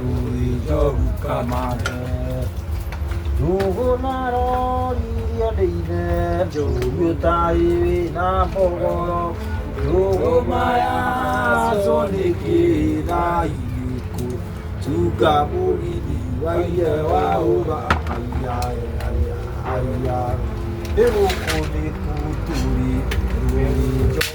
Rũi njogu kamande Njũgũ na rori iria ndĩithe Njũgũ taĩ wĩ na mbogoro Njũgũ maya aco nĩ kĩthainĩ kũ Tunga mũgithi wa iye wa ũga Aya aya aya Nĩ gũkũ nĩ kũtũrĩ Rũi njogu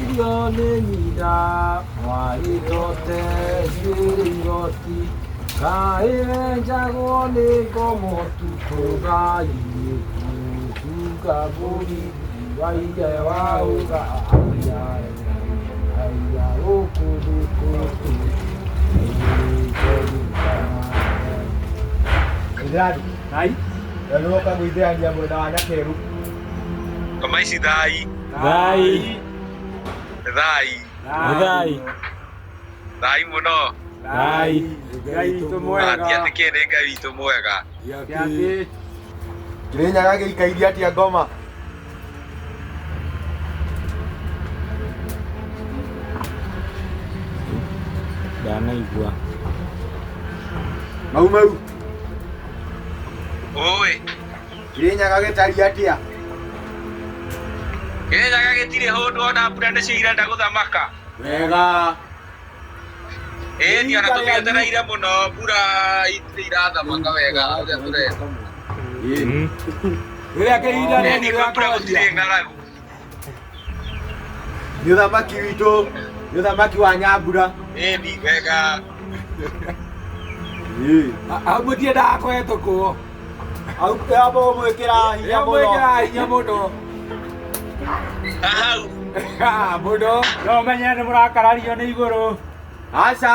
Irio nĩ nyina warĩtote njuĩrĩ igoti Kaĩ wenjagwo nĩ ngomo tu tũgai gũtunga mbũri wa ithe wa rũga haiya haiya gũkũ thĩ gũkũ Ndani, Hai, na nä woka gå ithä ania mwena wa nyakeru kama ici thai Thai. Thai. Thai. Thai muno. Thai. Ngai witũ mwega. Ati ati kĩ nĩ Ngai witũ mwega. Gĩatĩ. Kĩrĩnyaga gĩikairie atia ngoma. Ndanaigua. Mau mau. Oi. Kĩrĩnyaga gĩtariĩ atĩa? Kĩrĩnyaga gĩtirĩ hũndũ ona mbura nĩcio irenda gũthamaka. Wega. Ĩni ona tũmĩetereire mũno mbura itirĩ irathamaka wega ũrĩa tũrenda. Rĩrĩa kĩhinda rĩu Ĩni kwĩ mbura gũtirĩ rĩakoria. ng'aragu. nĩ ũthamaki witũ nĩ ũthamaki wa nyambura Ĩni wega. au mũtiendaga kũhetũkwo au amba ũmwĩkĩra hinya mũno mwĩkĩra hinya mũno Hau. mũno no menye nĩ mũrakarario nĩ igũrũ aca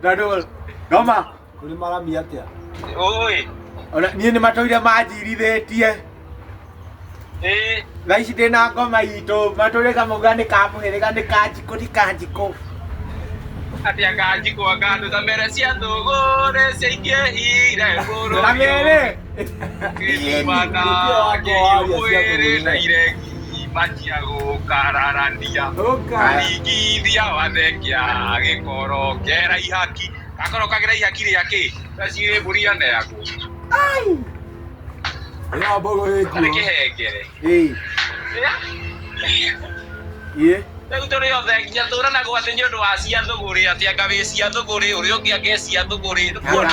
Ndandũgũ, ngoma. Kũrĩ marami atĩa? Ũĩ. Ona niĩ nĩ matũire manjirithĩtie. Ĩĩ. Thaa ici ndĩ na ngoma itũ, matũire kamauga nĩ ka mũhĩrĩga nĩ ka njikũ ti ka njikũ. Atĩa ka njikũ anga andũ ta mere cia thũgũrĩ ciaingĩhire bũrũri ũyũ. Kamere. Kĩmana kĩihũĩ na iregi manjia gũkararania karingithia wathengĩa gĩkoro kera ihaki gakoro kagera ihaki rĩa kĩ gacirĩ mbũri aneagwo karĩ kĩhengere rĩu tũrĩ othe nginya tũranaga atĩ nĩ ũndũ wa cia thũgũrĩ atĩ anga wĩ cia thũgũrĩ ũrĩa ũngĩ anga e cia thũgũrĩ nĩkuona